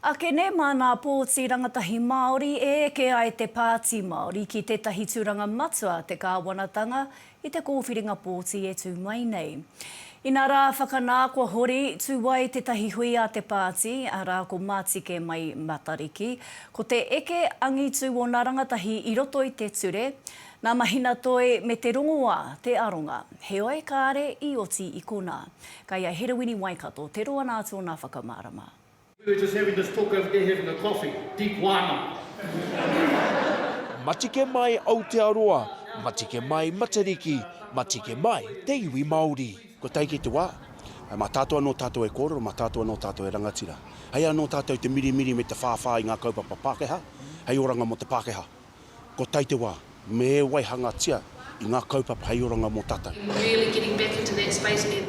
Ake nei māna pōti rangatahi Māori e eke ai te Pāti Māori ki tētahi tūranga matua te kāwanatanga i te kōwhiringa pōti e tū mai nei. Inā rā whakanā kua hori, tū ai tētahi hui a te pāti, arā ko Matike Mai Matariki, ko te eke angitū ōna rangatahi i roto i te ture, nā Mahina Toi me Te Rongoā te aronga. Heoi kāre i oti i konā. Kei a Herewini Waikato te roa nā tōna whakamārama. We were just having this talk over there having a coffee. Deep wāna. Matike mai Aotearoa, matike mai Matariki, matike mai te iwi Māori. Kua tae ki te wā, mā tātou anō tātou e kōrero, mā tātou anō tātou e rangatira. Hei anō tātou te mirimiri me te whāwhā i ngā kaupapa Pākehā, hei oranga mō te Pākehā. Ko tai te wā, me e waihangatia i ngā kaupapa hei oranga mō tātou.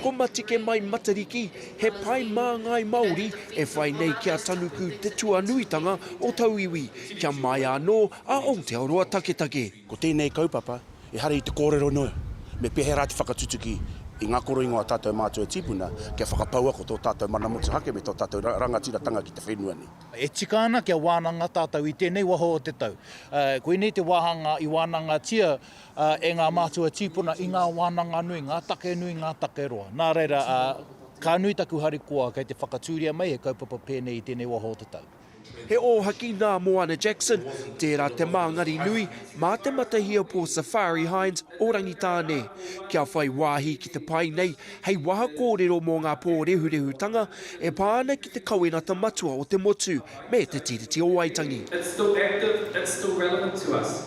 Ko Matike Mai Matariki, he pae māngai Māori e whai nei ki a Tanuku te tuanuitanga o tauiwi, kia māia anō a Aotearoa taketake. Ko tēnei kaupapa, ehara i te kōrero noa, me pēhera te whakatutuki i ngā koroingo a tātou mātua tīpuna kia whakapaua ko tō tātou mana motuhake me tō tātou rangatiratanga ki te whenua nei. E tika ana kia wānanga tātou i tēnei waho o te tau. Koinei te wāhanga i wānangatia e ngā mātua tīpuna i ngā wānanga nui, ngā take nui, ngā take roa. Nā reira, ka nui taku harikoa kei te whakatūria mai he kaupapa pēnei i tēnei waho o te tau. He ōhaki nā Moana Jackson, tērā te māngari nui mā Te Matahia Pō Safari Hines o Rangitāne, kia whai wāhi ki te pae nei hei waha kōrero mō ngā pōrehurehutanga e pā ana ki te kawenata matua o te motu me Te Tiriti o Waitangi.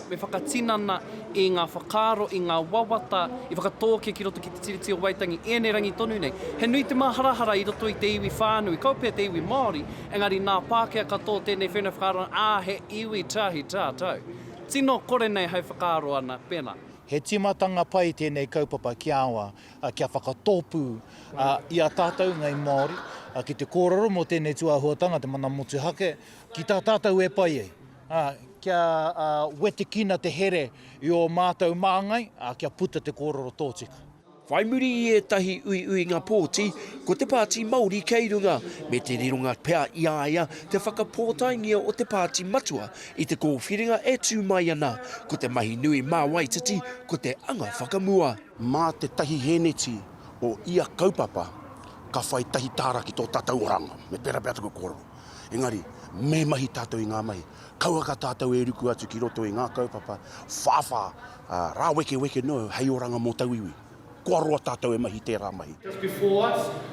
Me whakatinana i ngā whakaaro, i ngā wawata i whakatōkia ki roto ki Te Tiriti o Waitangi i ēnei rangi tonu nei. He nui te māharahara i roto i te iwi whānui, kaua pea te iwi Māori, engari nā Pākehā katoa tēnei whenua whakaarona, ā, he iwi tahi tātou. Tino kore nei hai whakaaro ana, pēnā. He tīmatanga pai tēnei kaupapa ki aua, kia whakatōpū i a tātou ngāi Māori ki te kōrero mō tēnei tūāhuatanga, te mana motuhake, ki tā tātou e pai ai. Kia wetekina te here i ō mātou māngai, kia puta te kōrero tōtika. Whai muri i ētahi uiuinga pōti, ko te Pāti Māori kei runga, me te rironga pea i a ia te whakapōtaengia o te Pāti Matua i te kōwhiringa e tū mai ana, ko te mahi nui mā Waititi ko te anga whakamua. Mā te tahi hēneti o ia kaupapa ka whai tahi tāra ki tō tātou oranga, me pērā pea taku kōrero. Engari, me mahi tātou i ngā mahi. Kauaka tātou e ruku atu ki roto i ngā kaupapa whāwhā, ā, rāwekeweke noa hei oranga mō tauiwi. Kua roa tātou e mahi tērā mahi.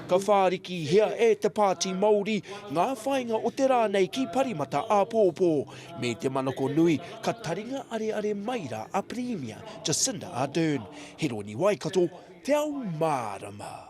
Ka whārikihia e te Pāti Māori ngā whāinga o te rā nei ki Parimata āpōpō. Me te manako nui, ka taringa areare mai rā a Pirimia Jacinda Ardern, Heroni Waikato, Te Ao Mārama.